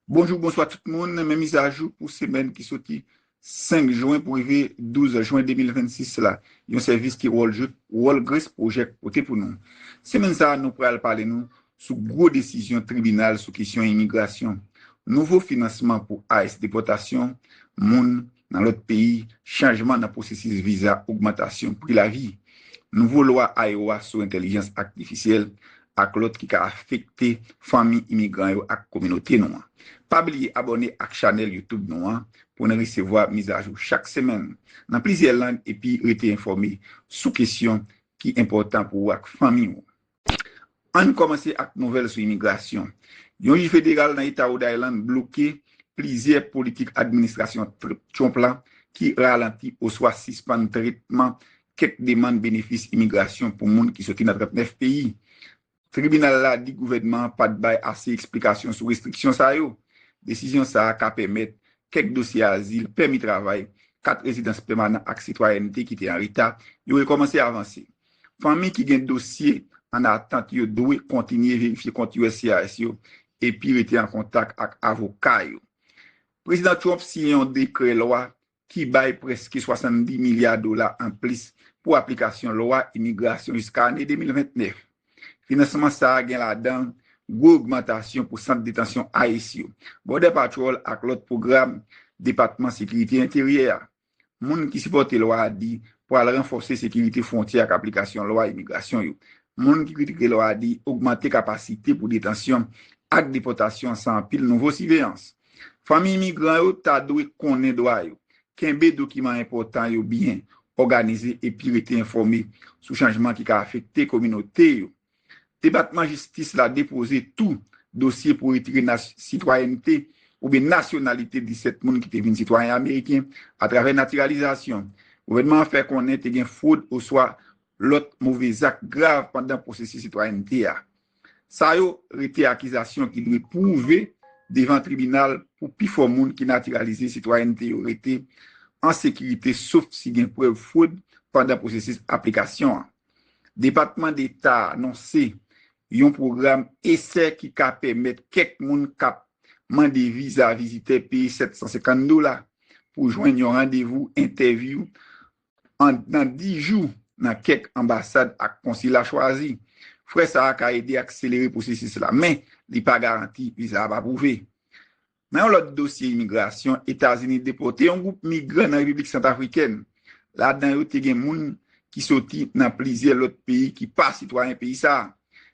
Bonjou bonswa tout moun men mizajou pou semèn ki soti 5 jwen pou rive 12 jwen 2026 la yon sèvis ki wòl jwet wòl Grace Project pote pou nou semèn sa nou pral pale nou sou gwo desizyon tribinal sou kesyon imigrasyon nouvo finansman pou ice depòtasyon moun Nan lòt peyi, chanjman nan pwosesis viza, ogmantasyon pri lavi, nouvo lwa Iowa sou entèlijans aktifisyèl, ak lòt ki ka afekte fanmi imigran yo ak kominote nou an. Pa bliye abòne ak chanèl YouTube nou an pou n resevwa mizajou chak semèn nan plizyè lang epi rete enfòme sou kesyon ki enpòtan pou ou ak fanmi ou. Ann kòmanse ak nouvèl sou imigrasyon. Yon jij federal nan eta Rhode Island bloke plizyè politik administrasyon Trump la ki ralanti oswa sispann tretman kèk demann benefis imigrasyon pou moun ki soti nan 39 peyi. Tribinal la di gouvènman an pat bay ase eksplikasyon sou restriksyon sa yo. Desizyon sa a ka pèmèt kèk dosye azil, pèmi travay, kat rezidans pèmanan ak sitwayènte ki te an reta yo rekòmanse avanse. Fanmi ki gen dosye an atant yo dwe kontinye verifye kont uscis yo epi rete an kontak ak avoka yo. Prezidan Trump siyen yon dekrè lwa ki bay prèske 70 milya dola anplis pou aplikasyon lwa imigrasyon jiska ane 2029. Finansman sa a gen ladan gwo ogmantasyon pou sant detansyon ice yo, Border Patrol ak lòt pwogram Depatman Sekirite Enteryè a. Moun ki sipòte lwa a di pral ranfòse sekirite fwontyè ak aplikasyon lwa imigrasyon yo. Moun ki kritike lwa a di ogmante kapasite pou detansyon ak depòtasyon san anpil nouvo siveyans. Fanmi imigran yo ta dwe konnen dwa yo, kenbe dokiman enpòtan yo byen òganize epi rete enfòme sou chanjman ki ka afekte kominote yo. Depatman Jistis la depoze tou dosye pou retire sitwayènte oubyen nasyonalite 17 moun ki te vin sitwayen ameriken atravè natiralizasyon. Gouvènman an fè konnen te gen fwod oswa lòt move zak grav pandan pwosesis sitwayènte a. Sa yo rete akizasyon ki dwe pwouve devan tribinal pou pifò moun ki natiralize sitwayènte yo rete an sekirite sof si gen prèv fwod pandan pwosesis aplikasyon an. Depatman Deta a anonse yon pwogram esè ki ka pèmèt kèk moun k ap mande viza vizitè peye 750 dola pou jwenn yon randevou entèvyou anndan 10 jou nan kèk anbasad ak konsila chwazi. Frè sa a ka ede akselere pwosesis la, men li pa garanti viza ap apwouve. Nan yon lòt dosye imigrasyon, Etazini depòte yon gwoup migran nan Repiblik Santafrikèn. Ladan yo te gen moun ki soti nan plizyè lòt peyi ki pa sitwayen peyi sa a.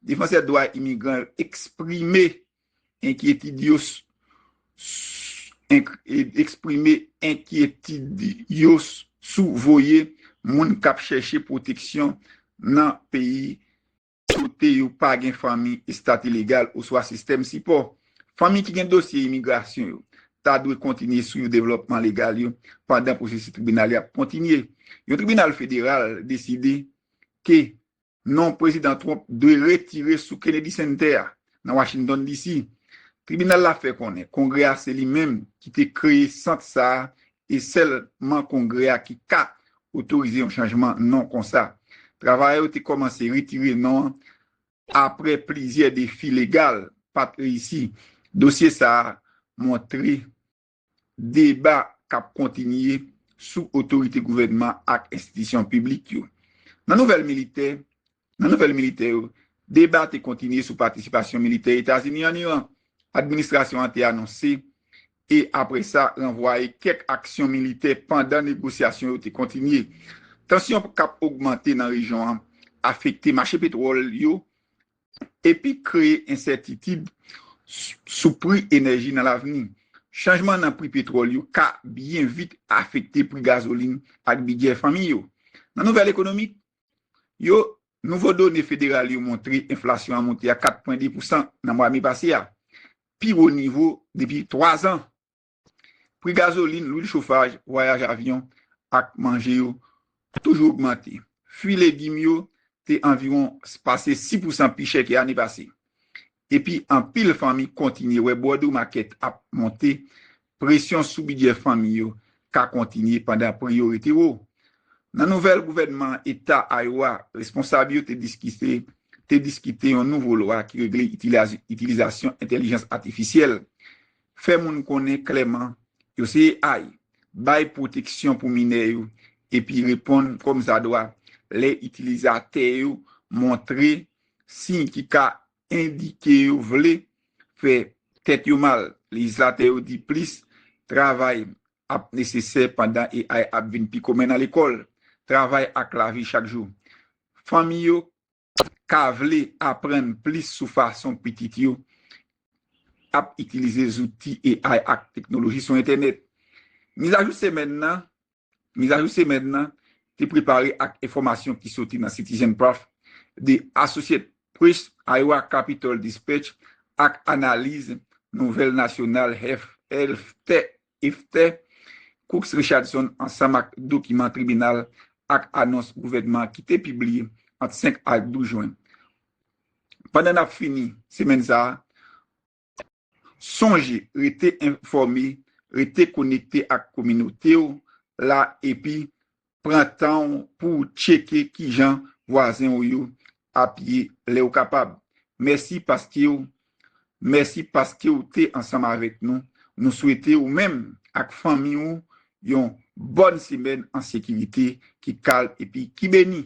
Defansè dwa imigran yo eksprime enkyetid yo eksprime enkyetid yo sou voye moun k ap chèche pwoteksyon nan peyi Kote yo pa gen fanmi, estat ilegal, oswa sistèm sipò. Fanmi ki gen dosye imigrasyon yo ta dwe kontinye swiv devlòpman legal yo pandan pwosesis tribinal yo ap kontinye. Yon tribinal federal deside ke non Prezidan Trump dwe retire sou Kennedy Center a nan Washington, DC. Tribinal la fè konnen Kongrè a se li menm ki te kreye sant sa a E sèlman Kongrè a ki ka otorize yon chanjman non konsa. Travayè yo te kòmanse retire non an apre plizyè defi legal pa t reyisi. Dosye sa a montre deba k ap kontinye sou otorite gouvènman ak enstitisyon piblik yo. Nan nouvèl militè, Nan nouvèl militè yo, deba te kontinye sou patisipasyon militè Etazini an Iran. Administrasyon an te anonse e apre sa ranvwaye kèk aksyon militè pandan negosyasyon yo te kontinye. Tansyon k ap ogmante nan rejyon an afekte mache petwòl yo epi kreye ensètitid sou pri enèji nan lavni. Chanjman nan pri petwòl yo ka byen vit afekte pri gazolin ak bidjè fanmi yo. Nan nouvèl ekonomik, yo, nouvo done federal yo montre enflasyon an monte a 4 pwen 2 pousan nan mwa me pase a, pi wo nivo depi 3 zan. Pri gazolin, lwil chofaj, vwayaj avyon ak manje yo toujou ogmante. Fwi legim yo te anviwon pase 6 pousan pi chè ke ane pase. epi anpil fanmi kontinye wè bwòdri makèt ap monte, presyon sou bidjè fanmi yo ka kontinye pandan pri yo rete wo. Nan nouvèl gouvènman eta Iowa, responsab yo te diskite te diskite yon nouvo lwa ki regle itilizasyon entèlijans atifisyèl, fè moun konnen klèman yo se AI, bay pwoteksyon pou minè yo, epi reponn kòmsadwa lè itilizatè yo montre siy ki ka endike yo vle fè tèt yo mal. Lejislatè yo di plis travay ap nesesè pandan AI ap vin pi komen nan lekòl, travay ak lavi chak jou. Fanmi yo ka vle aprann plis sou fason pitit yo ap itilize zouti AI ak teknoloji sou entènèt. Mizajou semèn nan Mizajou semèn nan te prepare ak enfòmasyon ki soti nan Citizen Prof, The Associate Press, Iowa Capitol Dispatch ak analiz nouvèl nasyonal Hefteh Cooks Richardson ansanm ak dokiman tribinal ak anons gouvènman ki te pibliye ant 5 ak 12 jwen. Pandan n ap fini semèn sa a, Sonje rete enfòme, rete konekte ak kominote w la epi pran tan w pou w tcheke kijan vwazen w yo ap ye lè w kapab. Mèsi paske w Mèsi paske w te ansanm avèk nou. Nou swete ou menm ak fanmi ou yon bòn semèn an sekirite, ki kalm epi ki beni.